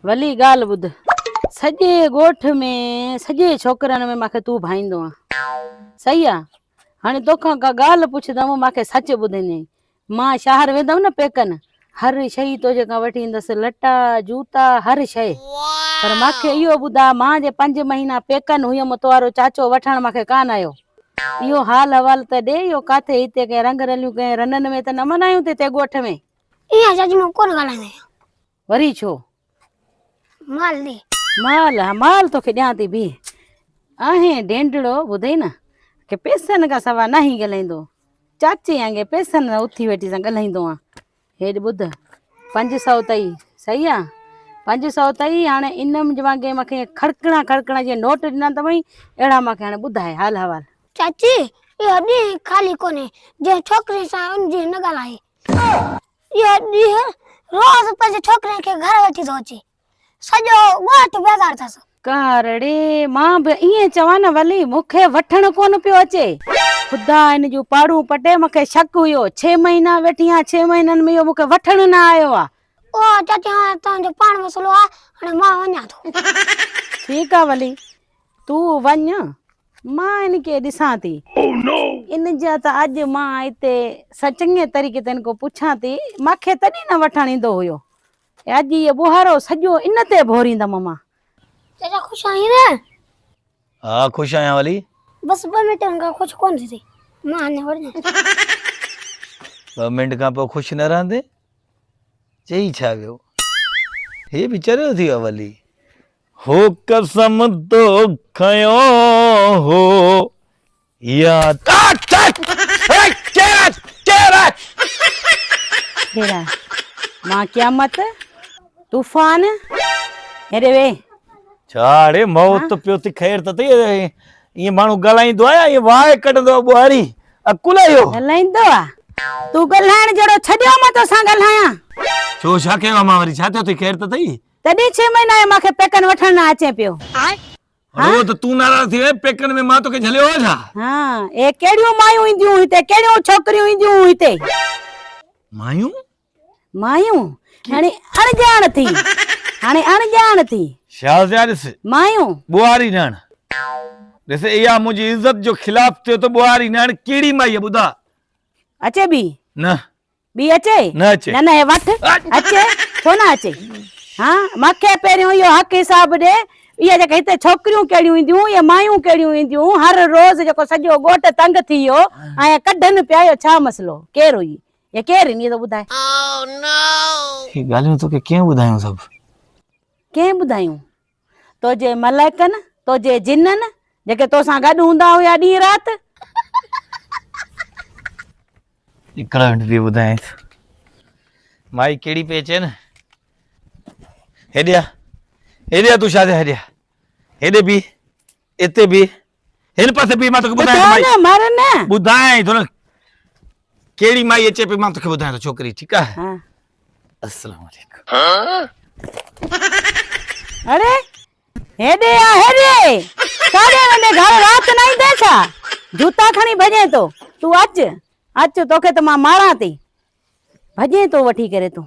ولي ڳالهه ٻڌ. سڄي ڳوٺ ۾ سڄي ڇوڪرن ۾ مانکي تون ڀائيندو آن. صحيح آ. هاڻي توکان ڪا ڳالهه پڇدم مانکي سچ ٻڌندين. مان شهر ويندم نه پيڪن هر شيء تنهنجي کان وٺي ايندس، لٽا، جوتا، هر شيء. پر مان کي اهو ٻڌاء، مان جي پنج مهينا پيڪن هيم، توهارو چاچو وٺڻ مان کي ڪانه آيو. اهو حال احوال ته ڏي، اهو ڪاٿي هتي ڪنهن رنگ رليون ڪنهن رنن ۾ ته نه منايون ٿي تي ڳوٺ ۾؟ ايئن جاجي مون ڪونه ڳالهائيندو آهيان. وري ڇو؟ مال ڏي. مال، ها مال توکي ڏيان ٿي بيهه. آهين ڊينڊڙو ٻڌئي نه ڪي پيسن کان سوا ناهين ڳالهائيندو. چاچي آنگي پيسن سان اٿي ويٺي سان ڳالهائيندو آن. هيڏ ٻڌ پنج سؤ اٿئي صحيح آ. پنج سؤ اٿئي هاڻي ان م جوان ڪي مونکي کڙڪڻا کڙڪڻا جيئن نوٽ ڏنا اٿوئي اهڙا مونکي هاڻي ٻڌاء حال حوال. چاچي، اهو ڏينهن خالي ڪونهي جنهن ڇوڪري سان ان جي نه ڳالهائي. ٿو. اهو ڏينهن روز پنهنجي ڇوڪريء کي گهر وٺي ٿو اچي. سڄو ڳوٺ بيزار اٿس. ڪارڙي، مان به ائين چوان نه ولي مون کي وٺڻ ڪونه پيو اچي. خدا هن جون پاڙون پٽي مون کي شڪ هيو. ڇهه مهينا ويٺي آهيان ڇهه مهينن ۾ اهو مون کي وٺڻ نه آيو آهي. اوهه چاچي هاڻي تنهنجو پاڻ مسئلو آهي هاڻي مان وڃان ٿو. ٺيڪ آهي ولي تون وڃ مان ان کي ڏسان ٿي. Oh no! ان جا ته اڄ مان اتي سا چڱي طريقي تن کان پڇان ٿي، مان کي تڏهن نه وٺڻ ايندو هيو. اڄ هيء ٻوهارو سڄو ان تي ڀوريندم مان. چچا خوش آهين نه؟ ها خوش آهيان ولي. بس ٻه منٽ کان خوش ڪونه ٿيندين. مان اڃا وڙهجان ٿو. ٻه منٽ کان پوء خوش نه رهندين؟ چئي ڇا ويو؟ هيء به چريو ٿي ويو آهي ولي. هو قسم تو کنيو هو ياد. ڪهڙا مان قيامت طوفان هيڏي وي. ڇا اڙي موت پيو ٿي خير ته ٿي ائين ماڻهو ڳالهائيندو آهي ائين واهه ڪڍندو آهي ٻوهاري عقل آهي اهو. ڳالهائيندو آ تون ڳالهائڻ جهڙو ڇڏيو مان توسان ڳالهايان. ڇو ڇا ڪيو آ مان وري ڇا ٿيو ٿي خير ته ٿي. تڏهن ڇهه مهينا آهي مان کي پيڪن وٺڻ نه اچين پيو. رڳو ته تون ناراض ٿي وئين پيڪن ۾ مان توکي جهليو هو ڇا؟ هان اهي ڪهڙيون مايون اينديون هتي ڪهڙيون ڇوڪريون اينديون هون هتي. مايون؟ مايون هاڻي اڻڄاڻ ٿي هاڻي اڻڄاڻ ٿي. شاز جا ڏس. مايون. ٻوهاري نياڻ ڏس اها منهنجي عزت جو خلاف ٿيو ته ٻوهاري نياڻ ڪهڙي مائي ٻڌا. اچي بي. نه ٻي اچي؟ نه اچي. نه نه هي وٺ. اچي؟ ڇو نه اچي؟ ها مون کي پهريون اهو حق حساب ڏي. اهي جيڪي هتي ڇوڪريون ڪهڙيون اينديون، اهي مايون ڪهڙيون اينديون، هر روز جيڪو سڄو ڳوٺ تنگ ٿي ويو ۽ ڪڍن پيا اهو ڇا مسئلو؟ ڪير هئي؟ يا ڪير هئي؟ اهو ٻڌاء. اهي ڳالهيون توکي ڪنهن ٻڌايون سڀ؟ ڪنهن ٻڌايون؟ تنهنجي ملائڪن، تنهنجي جنن، جيڪي تو سان گڏ هوندا هيا ڏينهن رات. هڪڙو هنڊ ٿي ٻڌايانس. مائي ڪهڙي پئي چين. هيڏي آ، هيڏي آ تون شازيا هيڏي آ. هيڏي بيهه، اتي بيهه، هن پاسي بيهه مان توکي ٻڌايان ٿو ٻڌاء نه مر نه ٻڌايان ٿو نه ڪهڙي مائي اچي پئي مان توکي ٻڌايان ٿو ڇوڪري ٺيڪ آهي ها السلام عليڪم اڙي هيڏي آ هيڏي ڪاڏي ويندي گهر رات نه ايندي ڇا جوتا کڻي ڀڄين تو تون اچ اچ توکي ته مان ماران ٿي ڀڄين تو وٺي ڪري تون